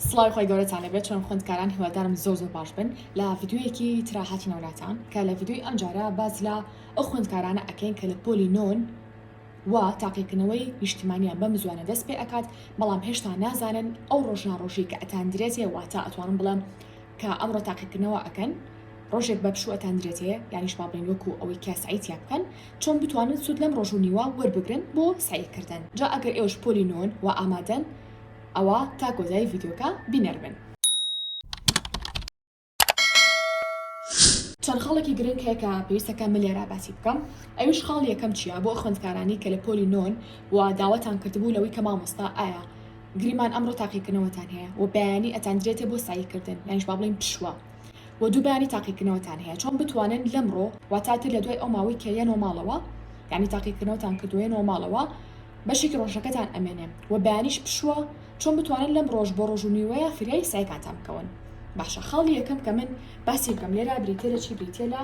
سڵاوی خۆی گەورەتان لێبێت چۆن خوێندکاران هیوادارم زۆر زۆر باش بن لە ڤیددیویەکی ترا هاتینەوە لاتان کە لە ڤیددیوی ئەم جارە باز لە ئەو خوێندکارانە ئەکەین کە لە پۆلی نۆن و تاقیکردنەوەی نیشتیمانیان بەم زوانە دەست پێ ئەکات بەڵام هێشتا نازانن ئەو ڕۆژناڕۆژی کە ئەتاندرێتێ واتا ئەتوانم بڵێم کە ئەمڕۆ تاقیکردنەوە ئەکەن ڕۆژێک بە پشوو ئەتاندرێتێ یانیش باڵین وەکو ئەوەی کە سعیتیا بکەن چۆن بتوانن سوود لەم ڕۆژ و نیوە وەربگرن بۆ سعیکردن جا ئەگەر ئێوەش پۆلی نۆن و ئامادەن ئەوا تا کۆتایی ڤیدیۆکە بینەر بن. چەند خاڵێکی گرنگ هەیە کە پێویستە کە من لێرە باسی بکەم ئەویش خاڵی یەکەم چیە بۆ خوێندکارانی کە لە پۆلی نۆن و داواتان کردبوو لەوەی کە مامۆستا ئایا گریمان ئەمڕۆ تاقیکردنەوەتان هەیە و بەیانی ئەتاندرێتێ بۆ ساییکردن یانیش با بڵێین پشوە و دوو بەیانی تاقیکردنەوەتان هەیە چۆن بتوانن لەمڕۆ واتاتر لە دوای ئەو ماوەی کە یەنەوە ماڵەوە یعنی تاقیکردنەوەتان کردووە یەنەوە ماڵەوە بەشێکی ڕۆژەکەتان ئەمێنێ و بەیانیش پشووە چۆن بتوانن لەم ڕۆژ بۆ ڕۆژ و نیوەیە فریای سەعیکانتان بکەون باشە خاڵی یەکەم کە من باسی بکەم لێرە بریتیە لە چی بریتیە لە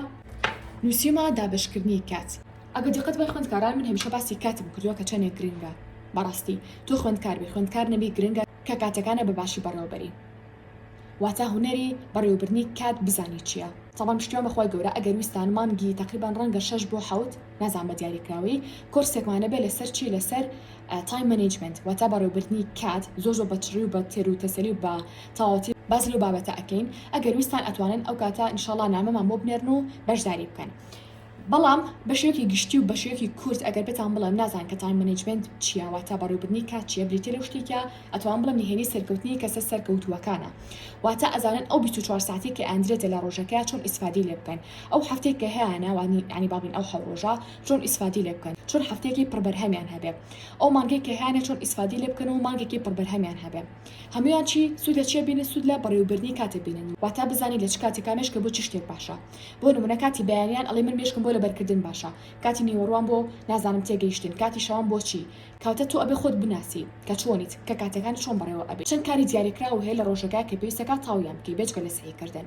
نووسیومە دابەشکردنی کات ئەگەر دیقەت بای خوێندکاران من هەمیشە باسی کاتم کردووە کە چەندێک گرنگە بەڕاستی تۆ خوێندکار بی خوێندکار نەبی گرنگە کە کاتەکانە بە باشی بەڕێوە بەری واتا هونەری بەڕێوەبردنی کات بزانی چیە تەڵەم پشتیوان بەخوای گەورە ئەگەر ویستان مانگی تەقریبەن ڕەنگە شەش بۆ حەوت نازانم بە دیاریکراوی کۆرسێکمانە بێ لەسەر چی لەسەر تایم مەنیجمنت واتە بەڕێوبردنی کات زۆر زۆر بەچڕی و بە تێر و تەسەلی و بە تەواوەتی باز لەو بابەتە ئەکەین ئەگەر ویستان ئەتوانن ئەو کاتە انشاءاللە نامەمان بۆ بنێرن و بەشداری بکەن بەڵام بەشێکی گشتی و بەشێکی کورت ئەگەر بتان بڵێم نازان کە تایم مەنیجمنت چیاوە تا بەڕێوبردنی کات چیە بریتە لەو شتێکە ئەتوان بڵم نهێنی سەرکەوتنی کەسە سەرکەوتووەکانە واتە ئەزانن ئەو 24 ساعتی کە ئەندرێتە لە ڕۆژەکە چۆن ئیسفادی لێ بکەن ئەو هەفتەی کە هەیە ناوانی یانی بابن ئەو حەو ڕۆژە چۆن ئیسفادی لێ بکەن چۆن هەفتەیەکی پڕ بەرهەمیان هەبێ ئەو مانگەی کە هەیانە چۆن ئیسفادی لێ بکەن و مانگێکی پڕ بەرهەمیان هەبێ هەمویان چی سود لە چیە بینن سود لە بەڕێوبردنی کاتێ بینن واتا بزانی لە چ کاتێکا مێشکە بۆ چی شتێک باشە بۆ نمونە کاتی بەیانیان ئەڵێ من مێشکم بۆ لەبەرکردن باشە کاتی نیوەڕوان بۆ نازانم تێگەیشتن کاتی شەوان بۆ چی کەواتە تۆ ئەبێ خۆت بناسی کە چۆنیت کە کاتەکانت چۆن بەڕێوە ئەبێ چەند کاری دیاریکراو هەیە لە ڕۆژەکە کە پێویستەکا تاویان بکەی بێجگە لە سەعی کردن.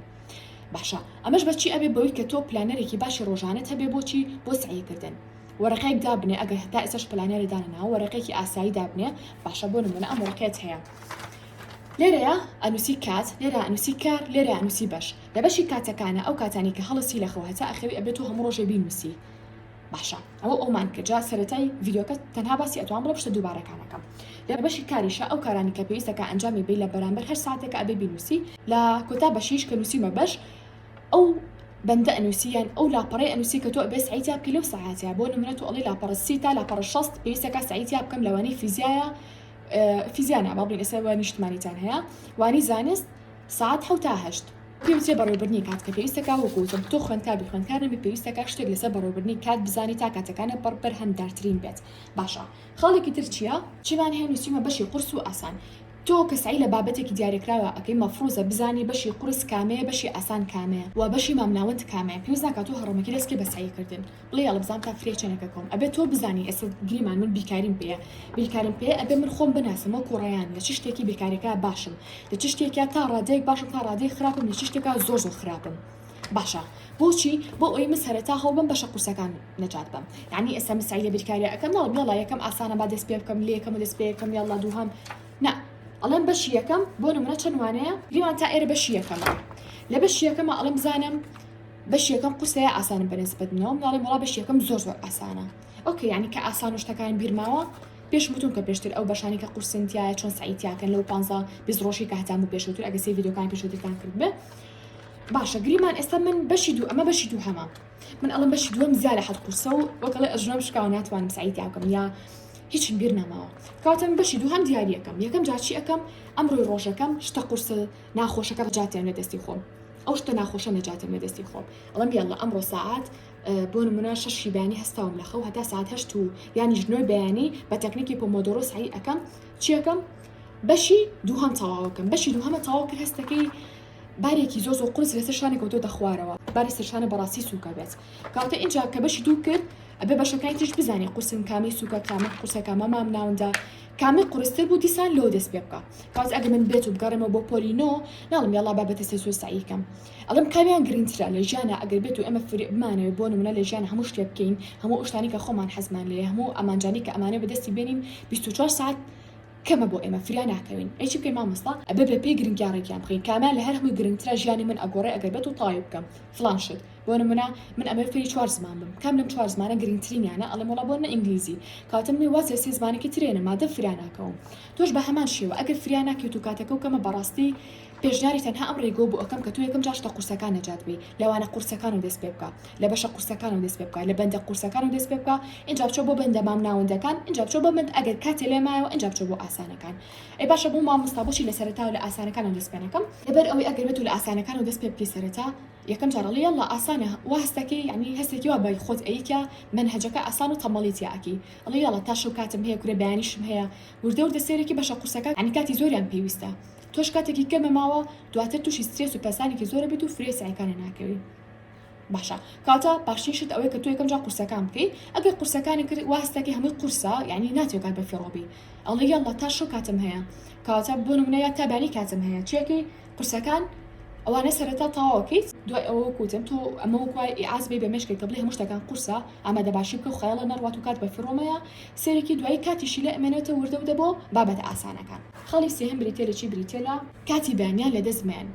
باشە ئەمەش بەچی ئەبێ بەوەی کە تۆ پلانەرێکی باشی ڕۆژانەت هەبێ بۆچی بۆ سەعی کردن وەرەقەیەک دابنێ ئەگەر هەتا ئێسش پلانەرە دانەناوە وەرەقێکی ئاسایی دابنێ باشە بۆ نمونە ئەم وەرەقەت هەیە لێرەیە ئەنووسی کات لێرە ئەنووسی کار لێرە ئەنووسی بەش لە بەشی کاتەکانە ئەو کاتانی کە هەڵسی لە خەوهتا ئەخەوی ئەبێت و هەموو ڕۆژێ بینووسی باشە ئەوە ئەومان کە جا سەرەتای ڤیددیوکە تەنها باسی ئەتوان بڵە پشتە دووبارەکانەکەم لە بەشی کاریشە ئەو کارانی کە پێویستەکە ئەنجامی بی لە بەرامبەر هەر ساتێکە ئەبێ بینوسی لە کۆتا بەشیش کە نووسیمە بەش ئەو بەندە ئەنووسیان ئەو لاپەڕی ئەنووسی کە تۆ ئەبێ سعیتیا بکە لەو ساعاتیا بۆ نمرەت و ئەڵی لاپەڕە سی تا لاپەڕە شەست پێویستەکە سعیتیا بکەم لەوانی فیزیایە فیزیانە با بڵین ئێستا نیشتمانیتان هەیە وانی زانست سەعات حەوتا هەشت. پێ وترێ بەڕێوبردنی کات کە پێویستە کا وەکو وتم تۆ خوێندکار بی خوێندکار نەبی پێویستە کا شتێک لەسەر بەڕێوبردنی کات بزانی تا کاتەکانت بەڕ بەرهەمدارترین بێت باشە خاڵێکی تر چیە؟ چیمان هەیە نوسیومە بەشی قورس و ئاسان تۆ کە سەعی لە بابەتێکی دیارێکراوە ئەکەی مەفڕوزە بزانی بەشی قورس کامەیە بەشی ئاسان کامەیە وە بەشی مامناوەند کامەیە پێویست ناکا تۆ هەڕەمەکی دەست کەی بە سەعی کردن بڵێ یاڵە بزانم تا فریا چەنەکە کۆم ئەبێ تۆ بزانی ئێستا گریمان من بیکاریم پێە بیکارم پێ ئەبێ من خۆم بناسم وەکو ڕیان لە چ شتێکی بێکارەکە باشم لە چ شتێکە تا ڕادەیەک باشم تا ڕادەی خراپم لە چ شتێکە زۆر زۆر خراپم باشە بۆچی بۆ ئەوی من سەرەتا هەڵ بم بەشە قورسەکان نەجات بم یعنی ئێستا من سعی لە بیرکاری ئەەکەم ناڵ یاڵا یەکەم ئاسانە با دەست پێ بکەم لە یەکەم و دەست پێ یەکەم یاڵا دووهەم نا ئەڵێم بەشی یەکەم بۆ نمرە چەند وانەیە گریمان تا ئێرە بەشی یەکەمە لە بەشی یەکەمە ئەڵم بزانم بەش یەکەم قورسە یا ئاسانە بە نسبەت منەوە مناڵێم وڵا بەش یەکەم زۆر زۆر ئاسانە ئۆکە یعنی کە ئاسان و شتەکان بیرماوە پێش وتون کە پێشتر ئەو بەشانی کە قورسن تایە چۆن سعیتیاکەن لەو پ بیست ڕۆژی کاتان بوو پێشوتر ئەگە سێ یددیوکان پێشوترتان کرد بێ باشە گریمان ئێستا من بەشی دوو ئەمە بەشی دوو هەمە من ئەڵم بەشی دووەم زیاد لە حەت قورسە و وەکڵێ ئەژنۆم شکاو ناتوانم سعیتیاکەم یا هیچم بیر نەماوە کاتم بەشی دوو هەم دیارە یەکەم یەکەم جاچی ئەەکەم ئەمڕۆی ڕۆژەکەم شتە قورسە ناخۆشەکە ڕجاتیان لە دەستی خۆم ئەو شتە ناخۆشە نەجاتم لە دەستی خۆم ئەڵم یاڵە ئەمڕۆ ساعات بۆ نمونە شەشی بانی هەستاوم لە خەو هەتا ساعت هەشت و یانی ژنۆی بەیانی بە تەکنیکی پۆمۆدۆرۆ سعی ئەەکەم چیەکەم بەشی دووهەم تەواوەکەم بەشی دووهەمە تەواو کرد هەستەکەی بارێکی زۆ زۆ قرس لەسەر شانێک و تۆ دەخوارەوە باری سەرشانە بەڕاستی سوکە بێت کاتە اینجا کە بەشی دوو کرد ئەبێ بەشەکانی تیش بزانانی قوسن کامی سوکە کامە قوسەکە مەمام ناوندا کامەی قورستر بوو دیسان لەوە دەست پێ بکە کەواتە ئەگەر من بێت و بگەڕێمەوە بۆ پۆلی نۆ ناڵم یاڵا با بەتە سێ سوێ سەعی کەم ئەڵم کامیان گرنگترە لە ژیانە ئەگەر بێت و ئێمە فری بمانەوێت بۆ نمونە لە ژیان هەموو شتێ بکەین هەموو ئەو شتانەی کە خۆمان حەزمان لێ هەموو ئەمانجانەی کە ئەمانە بەدەستی بێنین 24 ساعت کەمە بۆ ئێمە فریا ناکەوین ئەی چی بکەین مامۆستا ئەبێ بە پێی گرنگیان ڕێکیان بخەین کامیان لە هەر هەمووی گرنگترە ژیانی من ئەگۆڕێ ئەگەر بێت و تەواوی بکەم فڵان شت بۆ نمونە من ئەبێ فێری چوار زمان بم کام لەم چوار زمانە گرنگترینیانە ئەڵێم وڵا بۆ نە ئینگلیزی کاتم نی وازێ سێ زمانێکی ترێنە مادەم فریا ناکەوم تۆش بە هەمان شێوە ئەگەر فریا ناکەیت و کاتەکە و کەمە بەڕاستی پێشنیاری تەنها ئەم ڕێگۆ بۆ ئەەکەم کە تۆ یەکەم جاشتە قورسەکان نەجات بی لەوانە قورسەکان و دەست پێ بکە لە بەشە قورسەکان و دەست پێ بکە لە بەندە قورسەکان و دەست پێ بکە ئینجا بچۆ بۆ بەندە مام ناوەندەکان ئینجا بچۆ بۆ بەند ئەگەر کاتێ لێ مایەوە ئینجا بچۆ بۆ ئاسانەکان ئەی باشە بۆ مامۆستا بۆچی لە سەرەتا و لە ئاسانەکان و دەست پێ نەکەم لەبەر ئەوەی ئەگەر بێت و لە ئاسانەکان و دەست پێ بکەی سەرەتا یەکەم جارە ئەڵێی یەڵڵا ئاسانە وا هەست ئەکەی یەعنی هەستێکی وا بە خۆت ئەیی کە مەنهەجەکە ئاسان و تەمبەڵی تیا ئەکەی ئەڵێی یەڵڵا تا شەو کاتم هەیە کورە بەیانیشم هەیە وردە وردە سەیرەکی بەشە قورسەکان یەعنی کاتی زۆریان پێویستە تۆش کاتێکی کەمە ماوە دواتر توشی سترێس و پەسانێکی زۆر ئەبیت و فرێ سەعیکانە ناکەوی باشە کاتا باشترین شت ئەوەیە کە تۆ یەکەم جا قورسەکان بکەی ئەگەر قورسەکانی کرد وا هەستەکەی هەمووی قورسە یەعنی ناتوێ کات بەفیڕۆبی ئەڵێی یەڵڵا تا شەو کاتم هەیە کاتا بۆ نمونە یا تا بەیانی کاتم هەیە چیەکەی قورسەکان ئەوانە سەرەتا تاواکەیت دوای ئەوە کوتم تۆ ئەمە وکوای ئاز بێ بە مشکێک کە بڵێ هەموو شتەکان قورسە ئامادە باشی بکە خەڵە نەڕات و کات بە فڕۆمەیە سەرێکی دوای کاتیشی لە ئەمێنێتە وردە ودە بۆ بابەتە ئاسانەکان خەڵی سێهم بریتە لە چی بریتە لە کاتی بانیان لە دەست مێن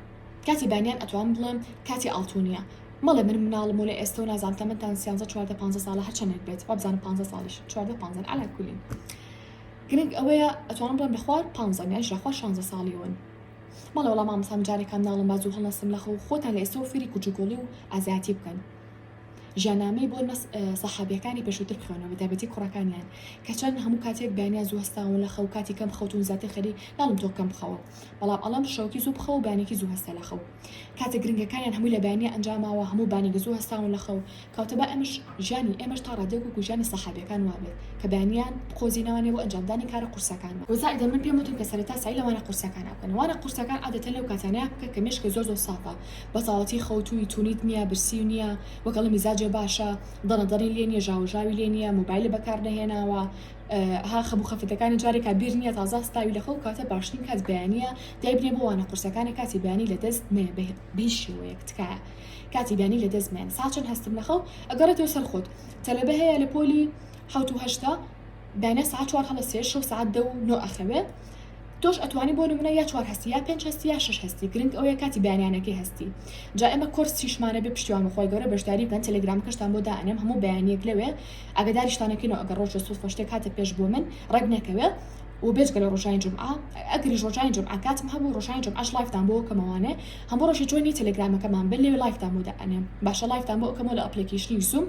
کاتی بانیان ئەتوان بڵێم کاتی ئاڵتونیە مەڵێ من مناڵم و لە ئێستا و نازان تەمەتان سیانزە چواردە پانزە ساڵە هەرچەندێک بێت وابزانم پ ساڵیش چواردە پ علا کولین گرنگ ئەوەیە ئەتوانم بڵێم لە خوار پ یان لە خوار شانزە ساڵی ون بەڵێ وەڵا مامۆستا من جارێکا مناڵم با زوو هەڵنەستم لەخەو خۆتان لە ئێستەوە فێری کجوکۆڵی و ئازایەتی بکەن ژیانامەی بۆ نەس سەحابیەکانی پێشوتر بخوێنەوە بە تایبەتی کوڕەکانیان کە چەند هەموو کاتێک بەیانیان زوو هەستاون لە خەو کاتی کەم خەوتون زیاتر خەری ناڵم تۆ کەم بخەوە بەڵام ئەڵەم شەوکی زوو بخەوە بانێکی زوو هەستە لە خەو کاتە گرنگەکانیان هەمووی لە بەیانیا ئەنجاماوە هەموو بانێک زوو هەستاون لە خەو کەوتبا ئێمەش ژیانی ئێمەش تا ڕادەیەک وەکو ژیانی سەحابیەکان وابێت کە بەیانیان بقۆزینەوانێ بۆ ئەنجامدانی کارە قورسەکانمان، وە زائیدەن من پێم وتن کە سەرەتا سەعی لە وانە قورسەکانا بکەن وانە قورسەکان عادەتەن لەو کاتانەیا بکە کە مێشکت زۆر زۆر سافە بەساڵەتی خەوتوی تونیت نیە برسیو نیە وەگەڵی میزاجێ باشە دەنە دەنی لێ نیە ژاوە ژاوی لێ نیە موبایلی بەکار نەهێناوە ها خەبو خەفەتەکانی جارێکا بیر نیە تازە هەستاوی لە خەو کەواتە باشترین کات بەیانیە دایبنێ بۆ وانە قورسەکانە کاتی بەیانی لە دەست مەیە بە هیچ شێوەیەک تکایە کاتی دانی لە دەست مەیەن ساچن هەستم لە خەو ئەگەڕێتەوە سەر خۆت تەلەبە هەیە لە پۆلی حەوت و هەشتا داینا ساعت چوار هەڵە سێ شەو ساعت دە و نۆ ئەخەوێ تۆش ئەتوانی بۆ نمونە یا چوار هەستی یا پێنج هەستی یا شەش هەستی گرنگ ئەوەیە کاتی بەیانیانەکەی هەستی جا ئێمە کۆرس چیشمانە بێ پشتیوان بەخوای گەورە بەشداری بکەن تەلەگرامەکەشتان بۆ دائەنێم هەموو بەیانیەک لەوێ ئاگداریشتانەکەینەوە ئەگەر ڕۆژ لە سووفەشتێک هاتە پێش بۆ من ڕێک نەکەوێ وە بێجگە لە ڕۆژانی جومعە ئەگەریش ڕۆژانی جومعە کاتم هەبوو ڕۆژانی جومعەش لایڤتان بۆ کەمەوانێ هەموو ڕۆژێ جۆینی تێلێگرامەکەمان بن لەوێ لایڤتان بۆ دائەنێم باشە لایڤتان بۆ ئەکەمەوە لە ئەپلێکیشنی زووم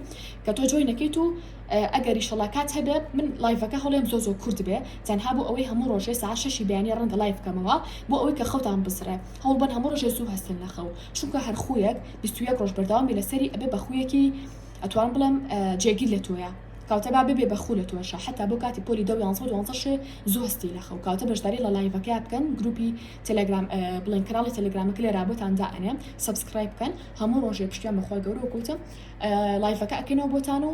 کە تۆ جۆین نەکەیت و ئەگەر ئیشەڵا کات هەبێ من لایڤەکە هەڵێم زۆ زۆ کورت بێ تەنها بۆ ئەوەی هەموو ڕۆژێ ساعت شەشی بەیانی ڕەنگە لایڤ بکەمەوە بۆ ئەوەی کە خەوتان بسڕێ هەوڵ بەن هەموو ڕۆژێ زوو هەستن لە خەو چونکە هەر خویەک بیست و یەک ڕۆژ بەردەوام بی لەسەری ئەبێ بە خویەکی ئەتوان بڵێم جێگیر لە تۆیە. کاوتە با ببێ بە خوو لە تۆشا حەتا بۆ کاتی پۆلی دەو یانزەو دوانزە شێ زوو هەستی لە خەو کاوتە بەژداری ڵە لایڤەکەیا بکەن گروپی تێلێگرام بڵێن کەناڵی تێلێگرامەکە لێرا بۆتان دا ئەنێم سەبسکرایب بکەن هەموو ڕۆژێ پشتیان بە خوای گەورەوە کوتم لایڤەکە ئەکەینەوە بۆتان و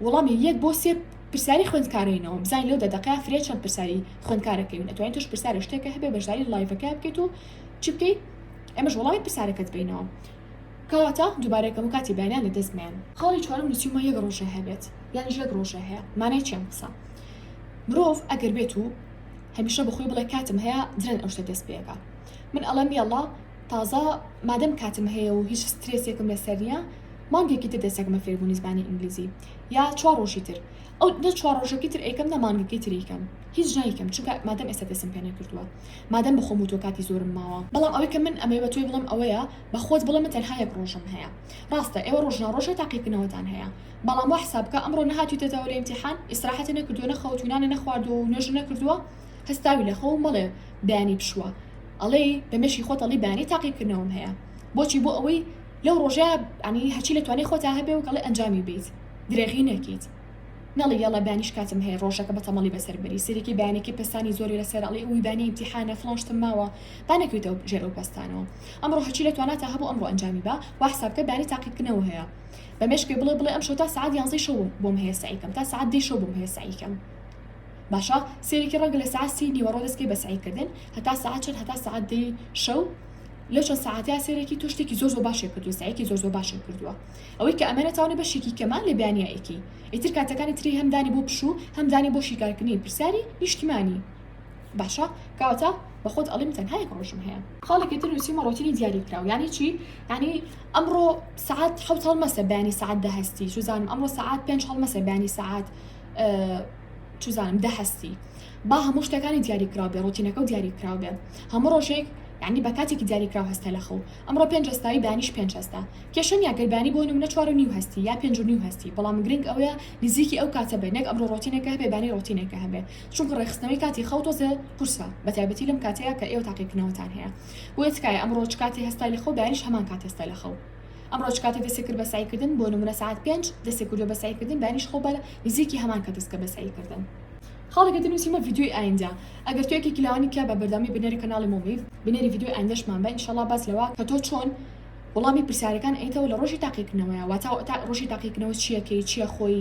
وەڵامی یەک بۆ سێ پرسیاری خوێندکارینەوە بزای لەو دە دەقەیا فرێ چەند پرسیاری خوێندکارەکەی من ئەتوانین توش پرسیارە شتێکە هەبێ بەژداری لایڤەکە بکەیت و چ بکەیت ئەمەش وەڵامی پرسیارەکەت بینەوە کەواتە دوبارە ئەکەم و کاتی بەیانیان لە دەست مەیەن. خاڵی چوارەم لە چیومە یەک ڕۆژێ هەبێت یانیش یەک ڕۆژێ هەیە مانای چی ئەم قسە مرۆڤ ئەگەر بێت و هەمیشە بەخۆی بڵێ کاتم هەیە درەن ئەو شتە دەست پێەکە من ئەڵێم یەڵا تازە مادەم کاتم هەیە و هیچ سترێسێکم لەسەر نییە مانگێکی تر دەسەکمە فێربوونی زمانی ئینگلیزی یا چوار ڕۆژی تر ئەو نە چوار ڕۆژەکەی تر ئەیکەم نە مانگەکەی تریکەم هیچ نایکەم چونکە مادەم ئێستا دەسم پێ نەکردووە مادەم بەخۆم و تۆ کاتی زۆرم ماوە بەڵام ئەوەی کە من ئەمەی بە تۆی بڵێم ئەوەیە بە خۆت بڵێ من تەنها یەک ڕۆژم هەیە ڕاستە ئێوە ڕۆژنا ڕۆژە تاقیکردنەوەتان هەیە بەڵام وا حساب بکە ئەمڕۆ نەهاتویتەتەوە لە ئیمتیحان ئیسراحەتی نەکردووە نەخەوتوی نانی نەخواردووە و نوێژ نەکردووە هەستاوی لە خەو مەڵێ بەیانی پشووە ئەڵێ بە مێشی خۆت ئەڵی بەیانی تاقیکردنەوەم هەیە بۆچی بۆ ئەوەی لەو ڕۆژە ئەنی هەرچی لە توانێ خۆتا هەبێ و گەڵی ئەنجامی بیت درێغی نەکەیت نەڵی یەڵە بانیش کاتم هەیە ڕۆژەکە بە تەمەڵی بەسەر بەری سەرێکی بەیانێکی پستانی زۆری لەسەر ئەڵی ئەوی بانێ ئیمتیحانە فڵان شتم ماوە با نەکەویتەوە ژێر ئەو پستانەوە ئەمڕۆ هەرچی لە تواناتا هەبوو ئەمڕۆ ئەنجامی با خوا حساب کە دانی تاقیبکردنەوە هەیە بە مێشک پێ بڵێ بڵێ ئەمشەو تا سەعات یانزەی شەو بۆم هەیە سەعی کەم تا سەعات دەی شەو بۆم هەیە سەعی کەم باشە سێرێکی ڕەنگە لە سەعات سی نیوەڕۆ دەستکەی بە سەعی کردن هەتا سەعات چەند هەتا سەعات دەی شەو لەو چەند سەعاتیا سێرێکی تۆ شتێکی زۆر زۆر باشێ کردو سەعێکی زۆر زۆر باشێ کردووە ئەوەی کە ئەمەە تاونە بەشێکی کەمان لە بیانیایەکی ئیتر کاتەکانی تری هەمدانی بۆ پشوو هەمدانی بۆ شیکارکردنی پرسیاری نیشتیمانی باشە کەواتە بەخۆت ئەڵیم تەنها یەک ڕۆژم هەیە. خاڵێکی تر نوسیومە ڕۆتینی دیاری کراو یانی چی یانی ئەمڕۆ سعات حەوت هەڵمەسە بەیانی سعات دە هەستی چوزانم ئەمڕۆ سعات پێنج هەڵمەسە بەیانی سعات چوزانم دە هەستی با هەموو شتەکانی دیاری کراو بێ ڕۆتینەکە و دیاری کراو بێ هەموو ڕۆژێک یعنی بە کاتێکی دیاری کراو هەستە لە خەو ئەمڕۆ پێنج هەستایی بەیانیش پێنج هەستا کێشە نیە گەر بەیانی بۆ نمونە چوار و نیو هەستی یا پێنج و نیو هەستی بەڵام گرنگ ئەوەیە نزیکی ئەو کاتە بێ نەک ئەمڕۆ ڕۆتینەکە هەبێ بەیانی ڕۆتینەکە هەبێ چونکە ڕێکخستنەوەی کاتی خەو تۆزێ قورسە بەتایبەتی لەم کاتەیە کە ئێوە تاقی کردنەوەتان هەیە بۆیە تکایە ئەمڕۆ چ کاتێ هەستای لە خەو بەیانیش هەمان کات هەستە لە خەو ئەمڕۆ چ کاتێ دەستی کرد بە سەعیکردن بۆ نمونە سەعات پێنج دەستی کردوە بە سەعیکردن بەیانیش خەو بە نزیکی هەمان کات دەستکە بە سەعیکردن خاڵێکە دەنووسیمە ڤیدیۆی ئایندە ئەگەر تۆ یەکێکی لەوانی تیا بە بەردەوامی بنێری کەناڵی مۆمیڤ بنێری ڤیدیۆی ئایندەشمان بە ئینشەڵڵا باس لەوە کە تۆ چۆن وەڵامی پرسیارەکان ئەیتەوە لە ڕۆژی تاقیکردنەوەیە واتا ڕۆژی تاقیکردنەوە چییەکەی چییە خۆی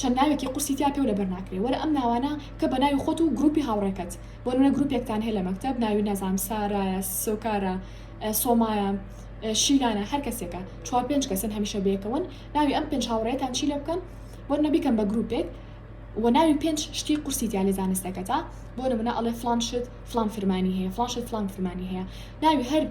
چەند ناوێکی قورسی تیا پێو لەبەر ناکرێ وەرە ئەم ناوانە بکە بە ناوی خۆت و گروپی هاوڕێکەت بۆنمونە گروپێکتان هەیە لە مەکتەب ناوی نازانم سارایە سۆکارە سۆمایە شیلانە هەر کەسێکە چوار پێنج کەسن هەمیشە بەیەکەوەن ناوی ئەم پێنج هاوڕێتان چی لێ بکەن وەرنە بیکەم بە گروپێک و ناوی پێنج شتی قورسی تیا لە زانستەکەتە بۆ نمونە ئەڵێ فلان شت فلان فرمانی هەیە فلان شت فلان فرمانی هەیە ناوی هەر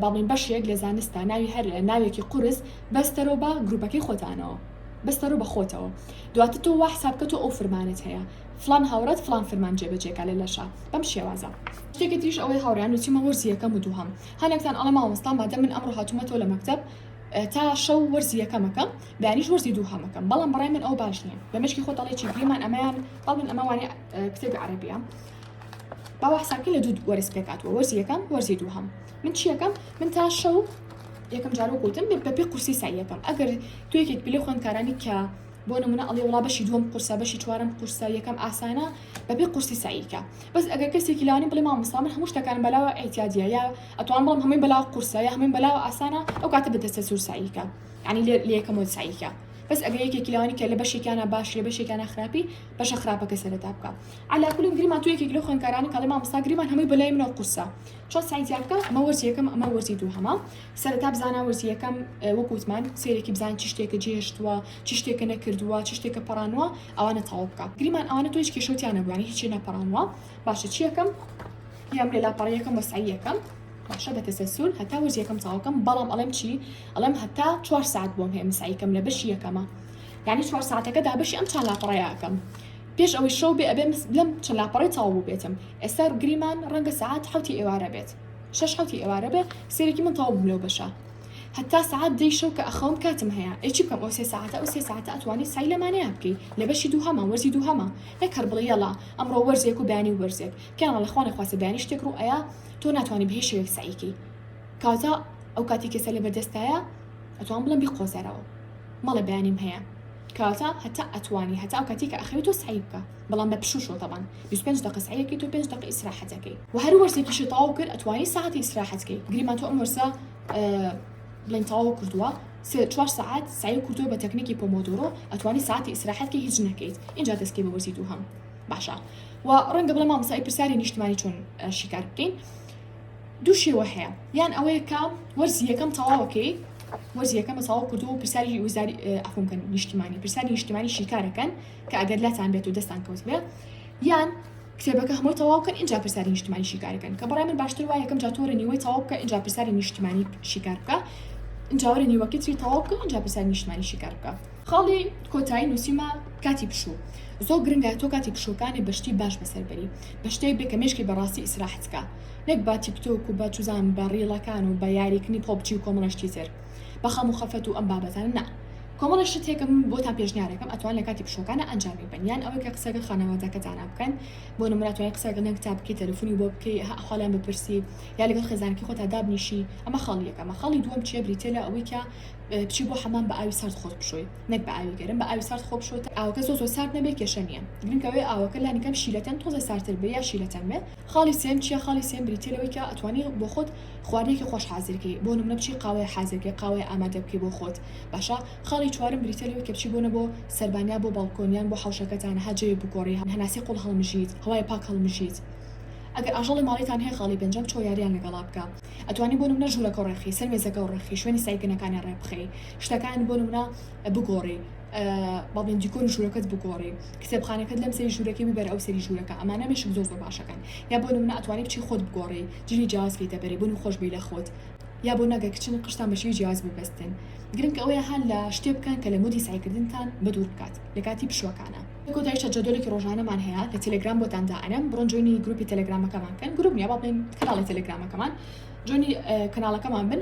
باڵین بەشێک لە زانستا ناوی هەر ناوێکی قورس بەستەرۆ بە گروپەکەی خۆتانەوە بەستەرۆ بە خۆتەوە دواتر تۆ وا حساب کە تۆ ئەو فرمانت هەیە فلان هاوڕات فلان فرمان جێبەجێکە لە لەشە بەم شێوازە شتێکی تریش ئەوەی هاوڕیان و چیمە وەرزی یەکەم و دووهەم هەنێکتان ئەڵە مامۆستا مادە من ئەمڕۆ هاتوومەتەوە لە مەکتب تا شەو وەرزی یەکەمەکەم بەیانیش وەرزی دوو هەمەکەم بەڵام بڕای من ئەو باش نییە لە مشکی خۆ دەڵێکی گریمان ئەمەیان بەڵ من ئەمەوانی کتێبی عربیە باوە حساکە لە دوو وەرز پێکاتوە وەرزی یەکەم وەرزی دووهەم من چیەکەم من تا شەو یەکەم جار وەک وتم بە پێ قورسی سای یەکەم ئەگەر تو یەکێک بلێ خوێندکارانی کە بۆ نمونە ئەڵێ وڵا بەشی دووەم قورسە بەشی چوارم قورسە یەکەم ئاسانە بە پێ قورسی ساییکە بەس ئەگەر کەسێکی لانی بڵێ مامۆستا من هەموو شتەکان بەلاوە ئەیتیادیە یا ئەتوان بڵم هەمووی بەلاو قورسە یا هەمووی بەلاوە ئاسانە ئەو کاتە بدەسە سوور ساییکە ینی لێ لەکەم و ساییکە بەس ئەگەر یەکێکی لەوانی کە لە بەشێکیانە باش لە بەشێکانە خراپی بەشە خراپەکە سەرتا بکە علاکولین گریمان تو یەکێک لە خوێندکارانی کاڵی مامۆستا گریمان هەمووی بەلای منەوە قورسە چۆن سەعی زیاد بکەم ئەمە وەرزی یەکەم ئەمە وەرزی دووهەمە سەرەتا بزانە وەرزی یەکەم وەک وتمان سێرێکی بزان چی شتێکە جێهێشتووە چی شتێکە نەکردووە چی شتێکە پەڕانوە ئەوانە تەواو بکە گریمان ئەوانە تۆ هیچ کێشەوتیان نەبووانی هیچی نەپەڕانوە باشە چی یەکەم یام لە لاپەڕیەکەم بە سعی یەکەم باشە بە تەسەسول هەتا وەرز یەکەم تەواوکەم بەڵام ئەڵێم چی ئەڵێم هەتا چوار ساعت بۆم هەیە مسعیکەم لە بەشی یەکەمە یعنی چوار ساعتەکەدا بەشی ئەم چاند لاپەڕەیەکەم پێش ئەوەی شەو بێ ئەبێم لەم چل لاپەڕەی تەواو بووبێتم ئێستا گریمان ڕەنگە سەعات حەوتی ئێوارە بێت شەش حەوتی ئێوارە بێ سێرێکی من تەواو بووم لەو بەشە هەتا سەعات دەی شەو کە ئەخەوم کاتم هەیە ئەی چی بکەم ئەو سێ سەعاتە ئەو سێ سەعاتە ئەتوانی سای لەمانەیە بکەی لە بەشی دووهەمە وەرزی دووهەمە نەک هەر بڵێ یەڵا ئەمڕۆ وەرزێک و بەیانی وەرزێک پێیان وەڵا خوا نەخواستە بەیانی شتێک ڕوو ئەیا تۆ ناتوانانی بە هیچ شێوەیەک سەعیکەی کاتە ئەو کاتی کێسە لەبەردەستایە ئەتوان بڵێم بیقۆزەرەوە مەڵێ بەیانیم هەیە کەواتە هەتا ئەتوانی هەتا ئەو کاتی کە ئەخەوی تۆ سعی بکە بەڵام بە پشوو شۆ تەبان 25 دقە سعیەکەی تۆ 5 دقە ئیسراحەتەکەی و هەر وەرزێکیشی تەواو کرد ئەتوانی ساعەتی ئیسراحەتکەی گریمان تۆ ئەم وەرزە بڵین تەواو کردووە سێ چوار ساعت سعی و کردووە بە تەکنیکی پۆمۆدۆرۆ ئەتوانی ساعتی ئیسراحەت کە هیچ نەکەیت اینجا دەستکەی بە وەرزی دوو هەم باشە و ڕەنگە بڵێ مامسای پرسیاری نیشتمانی چۆن شیکار بکەین دوو شێوە هەیە یان ئەوەیە کە وەرزی یەکەم تەواوە کەی وەرزی یەکەمە تەواو کردو و پرسیاری وزاری ئەخونکەن نیشتیمانی پرسیاری نیشتیمانی شیکارەکەن کە ئەگەر لاتان بێت و دەستان کەوت بێ یان کتێبەکە هەمووی تەواوکەن اینجا پرسیاری نیشتیمانی شیکارەکەن کە بەڕای من باشتر وایە یەکەم جاتۆرە نیوەی تەواو بکە اینجا پرسیاری نیشتیمانی شیکار بکە جاوەرە نیوەکە تری تەواو بکە اینجا پرسیاری نیشتیمانی شیکار بکە خاڵی کۆتایی نووسیمە کاتی پشوو زۆر گرنگە تۆ کاتی پشووەکانی بەشتی باش بەسەربەری بەشتەی بێکە مێشکی بەڕاستی ئیسراحەتکە نەک بە تیکتۆک و بە چوزانم بە ڕیڵەکان و بە یاریکنی پۆبجی و کۆمەڵە شتی تر بە خەم و خەفەت و ئەم بابەتانە نا کۆمەڵە شتێکم بۆتان پێشنیارەکەم ئەتوان لە کاتی پشوەکانە ئەنجامی بەن یان ئەوەی کە قسەگە خانەوادەکەتانا بکەن بۆ نمرە توای قسەگە نەنگ تا بکەی تەلفونی بۆ بکەی هە خالیان بپرسی یا لەگەڵ خێزانەکەی خۆتا دابنیشی ئەمە خاڵی یەکەمە خاڵی دووەم چیە بریتە لە ئەوەی کە بچی بۆ حەمام بە ئاوی سارد خۆت بشۆی نەک بە ئاوی گەرم بە ئاوی سارد خۆ بشۆ تا ئاوەکە زۆ زۆ سارد نەبێ کێشە نیە گرنگەوەی ئاوەکە لانیکەم شیلەتەن تۆزێ سارتر بێ یا شیلەتەن بێ خاڵی سێم چیە؟ خاڵی سێم بریتیە لەوەی کە ئەتوانی بۆخۆت خواردنێکی خۆش حازرکەی بۆ نمونە بچی قاوەیە حازرکەی قاوەیە ئامادە بکەی بۆ خۆت باشە خاڵی چوارم بریتیە لەوەی کە بچی بۆنە بۆ سەربان یا بۆ باڵکۆن یان بۆ حەوشەکەتان ها جەوێ بگۆڕی هەناسی قوڵ هەڵمژیت هەوای پاک هەڵمژیت ئەگەر ئاژەڵی ماڵیتان هەیە خاڵی پێنجەم چۆ یاریان لەگەڵا بکە ئەتوانی بۆ نمونە ژورەکەو ڕێخی سەر مێزەکەو ڕێخی شوێنی سایکەنەکانی ڕێبخەی شتەکان بۆ نمونە. بگۆڕی بەڵێن دیکۆری ژوورەکەت بگۆڕی کتێبخانەکەت لەم سری ژوورەکەی ببەر ئەو سری ژوورەکە ئەمانە مێشک زۆر زۆر باشەکان یا بۆ منە ئەتوانی بچی خۆت بگۆڕی جلی جیاز پێی دەبەری بوون خۆش بی لە خۆت یا بۆ ناگە کچن قشتان بەشی جیاز ببستن گرنگ ئەوەیە هەر لە شتێ بکەن کە لە مودی سعیکردنتان بە دوور بکات لە کاتی پشوەکانە کۆتایشە جەدۆلێکی ڕۆژانەمان هەیە لە تەلگرام بۆتان دائەنم بڕۆن جوێنی گروپی تەلگرامەکەمان کەن گروپ نیە بەڵێن کەناڵی تەلگرامەکەمان جۆنی کەناڵەکەمان بن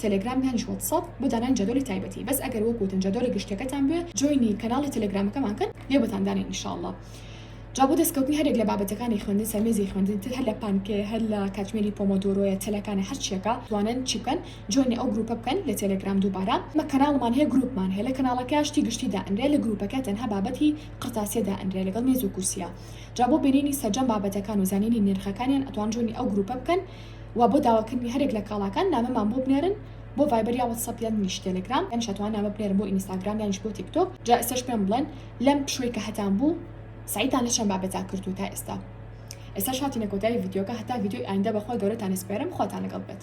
تێلێگرام یانیش واتساپ بۆ دانانی جەدۆلی تایبەتی بەس ئەگەر وەک وتن جەدۆلی گشتیەکەتان بوێ جۆینی کەناڵی تێلێگرامەکەمان کەن لێ بۆتان دانێن ان شاء اللە جا بۆ دەستکەوتنی هەرێک لە بابەتەکانی خوێندن سەرمێزی خوێندن تر هەر لە پانکێ هەر لە کاتژمێری پۆمۆدۆرۆیە تەلەکانە هەر چیەکە توانن چی بکەن جۆینی ئەو گروپە بکەن لە تێلێگرام دووبارە مە کەناڵمان هەیە گروپمان هەیە لە کەناڵەکە شتی گشتی دائەنرێ لە گروپەکە تەنها بابەتی قرتاسیە دائەنرێ لەگەڵ مێز و کورسیە جا بۆ بینینی سەرجەم بابەتەکان و زانینی نرخەکانیان ئەتوان جۆینی ئەو گروپە بکەن وە بۆ داواکردنی هەرێک لە کاڵاکان نامەمان بۆ بنێرن بۆ ڤایبەر یا وەتسەپ یانیش تێلێگرام یانیش ئەتوان نامە بنێرن بۆ ئینیستاگرام یانیش بۆ تیک تۆک جا ئێستاش پێم بڵێن لەم پشووی کە هەتان بوو سعیتان لە چەند بابەتا کردو تا ئێستا ئێستاش هاتینە کۆتایی ڤیدیۆکە هەتا ڤیدیۆی ئایندە بەخوای گەورەتان ئەسپێرم خواتان لەگەڵ بێت